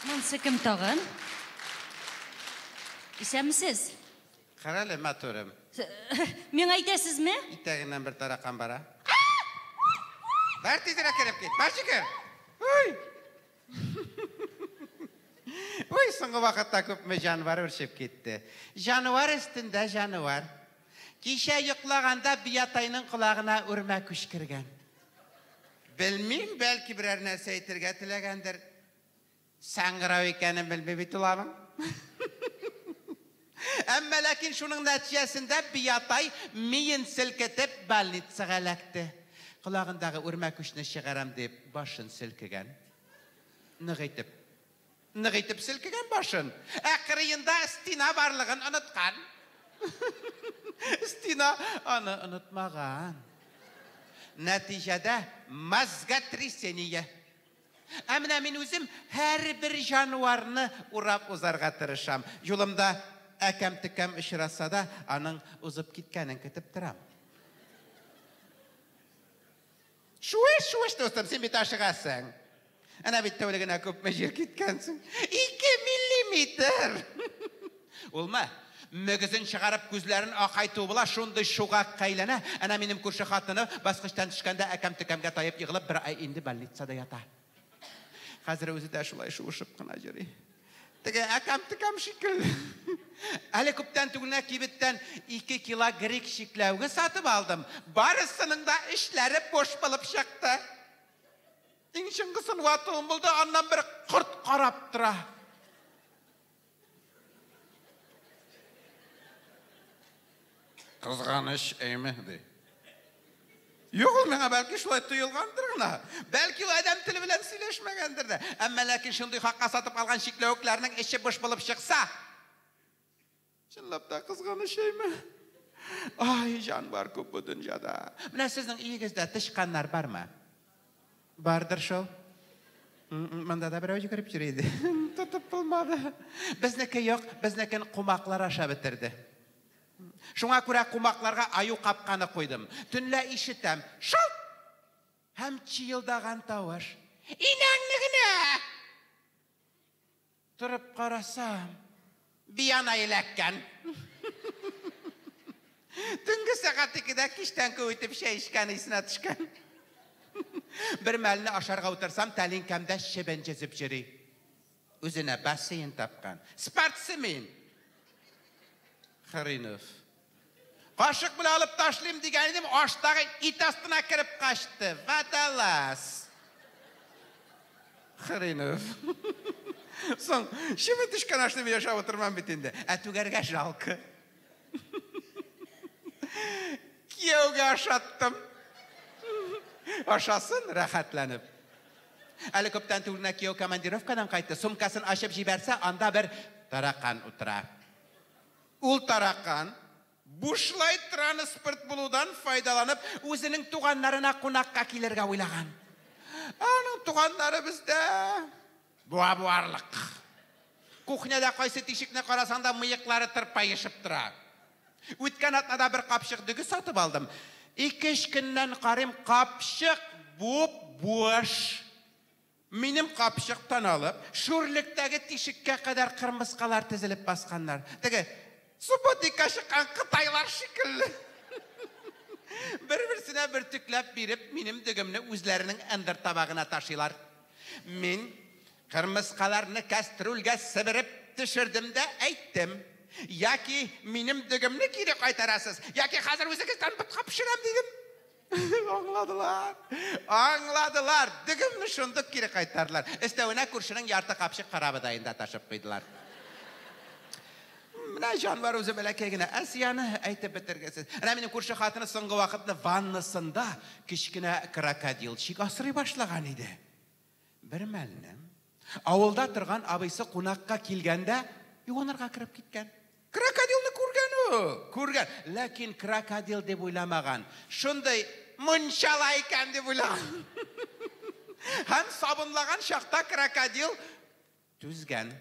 Монсы кем тагын? Исәмсез? Карале, матурым. Миңа әйтәсезме? Итәгеннән бер таракан бара. Бар тизрәк кереп кит. Бар чикер. Уй! Уй, соңгы вакытта күпме җанвар үрчеп китте. Җанвар өстендә җанвар. Кичә йоклаганда биятайның колагына үрмә күчкергән. Белмим, бәлки берәр нәрсә әйтергә теләгәндер. Саңгырау икәнен белми бит ул аның. Әмма ләкин шуның нәтиҗәсендә Биятай миен селкетеп больницага эләкте. Колагындагы үрмәкүчне чыгарам дип башын селкегән. Нык итеп. Нык итеп селкегән башын. Ә кырыенда стена барлыгын оныткан. Стена аны онытмаган. Нәтиҗәдә мозготрясение. Ә менә мин үзем һәрбер җанварны урап узарга тырышам. Юлымда әкәм-төкәм очраса да, аның узып киткәнен көтеп торам. Чуеш, чуеш, дустым, син бит ашыгасың. Әнә бит тәүлегенә күпме җир киткәнсең. Ике миллиметр! Улмы? Мөгезен чыгарып, күзләрен акайту була, шундый чугак кәйләнә. Әнә минем күрше хатыны баскычтан төшкәндә әкәм-төкәмгә таеп егылып, бер ай инде больницада ята. Хәзер үзе дә шулай шуышып кына йөри. Теге әкәм-текәм шикелле. Әле күптән түгел кибеттән 2 кило грек чикләвеге сатып алдым. Барысының да эчләре буш булып чыкты. Иң чыңгысын ватуым булды, аннан бер корт карап тора. Кызганыч, әйме, ди. Юк, ул миңа бәлки шулай тоелгандыр гына. Бәлки ул адәм теле белән сөйләшмәгәндер дә. Әмма ләкин шундый хакка сатып алган чикләвекләрнең эче буш булып чыкса, чынлап та кызганыч әйме? Ай, җан бар күп бу дөньяда. Менә сезнең өегездә тычканнар бармы? Бардыр шул. Монда да берәү йөгереп йөри иде. Тотып булмады. Безнеке юк, безнекен кумаклар аша бетерде. Шуңа күрә кумакларга аю капканы куйдым. Төнлә ишетәм. Шалт! Һәм чиелдаган тавыш. Инәңне генә! Торып карасам, Биана эләккән. Төнге сәгать икедә кичтән күп итеп чәй эчкәне исенә төшкән. Бермәлне ашарга утырсам, тәлинкәмдә чебен җезеп йөри. Үзенә бассейн тапкан. Спортсмен! Хренов. Кашык белән алып ташлыйм дигән идем, аштагы ит астына кереп качты. Водолаз. Хренов. Соң, чеме төшкән ашны мин ашап утырмам бит инде. Ә түгәргә жалко. Кияүгә ашаттым. Ашасын рәхәтләнеп. Әле күптән түгел генә кияү командировкадан кайтты. Сумкасын ачып җибәрсә, анда бер таракан утыра. Ул таракан, бушлай транспорт булудан файдаланып, үзенең туганнарына кунакка килергә уйлаган. Ә аның туганнары бездә буа-буарлык. Кухняда кайсы тишекне карасаң да, мыеклары тырпаешып тора. Үткән атнада бер капчык дөге сатып алдым. Ике-өч көннән карыйм, капчык буп-буш. Минем капчыктан алып, шүрлектәге тишеккә кадәр кырмыскалар тезелеп басканнар. Теге Субботникка чыккан кытайлар шикелле. Бер-берсенә бөртекләп биреп, минем дөгемне үзләренең ындыр табагына ташыйлар. Мин кырмыскаларны кәстрүлгә себереп төшердем дә әйттем, Яки минем дөгемне кире кайтарасыз, яки хәзер үзегездән ботка пешерәм, дидем. Аңладылар. Аңладылар. Дөгемне шундук кире кайтардылар. Өстәвенә күршенең ярты капчык карабы да инде ташып куйдылар. Менә җанвар үзе бәләкәй генә Асияне әйтеп бетергесез. Менә минем күрше хатыны соңгы вакытны ваннасында кечкенә крокодилчик асрый башлаган иде. Бермәлне авылда торган абыйсы кунакка килгәндә юанырга кереп киткән. Крокодилны күргән ул, күргән, ләкин крокодил дип уйламаган. Шундый мунчала икән дип уйлаган. Һәм сабынлаган чакта крокодил Түзгән.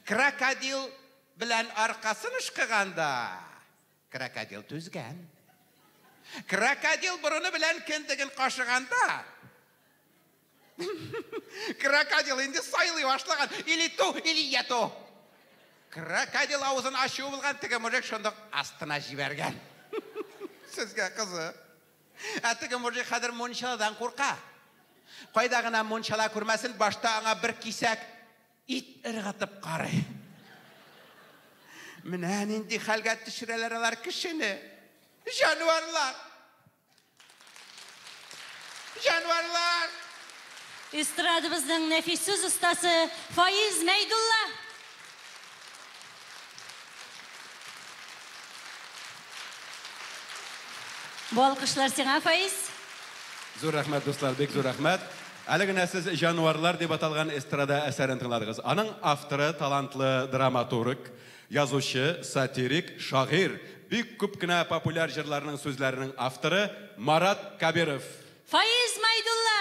Крокодил белән аркасын ышкыганда, крокодил түзгән. Крокодил борыны белән кендеген кашыганда, крокодил инде сайлый башлаган. Или ту, или я ту. Крокодил авызын ачуы булган, теге мужик шундук астына җибәргән. Сезгә кызык. Ә теге мужик хәзер мунчаладан курка. Кайда гына мунчала күрмәсен, башта аңа бер кисәк ит ыргытып карый. Менә нинди хәлгә төшерәләр алар кешене. Җанварлар! Җанварлар! Эстрадыбызның нәфис сүз остасы Фаиз Мәйдулла. Бу алкышлар сиңа, Фаиз. Зур рәхмәт, дуслар, бик зур рәхмәт. Әле генә сез Җанварлар дип аталган эстрада әсәрен тыңладыгыз. Аның авторы талантлы драматург, язучы, сатирик, шагыйрь, бик күп кенә популяр җырларның сүзләренең авторы Марат Кабиров. Фаиз Майдулла!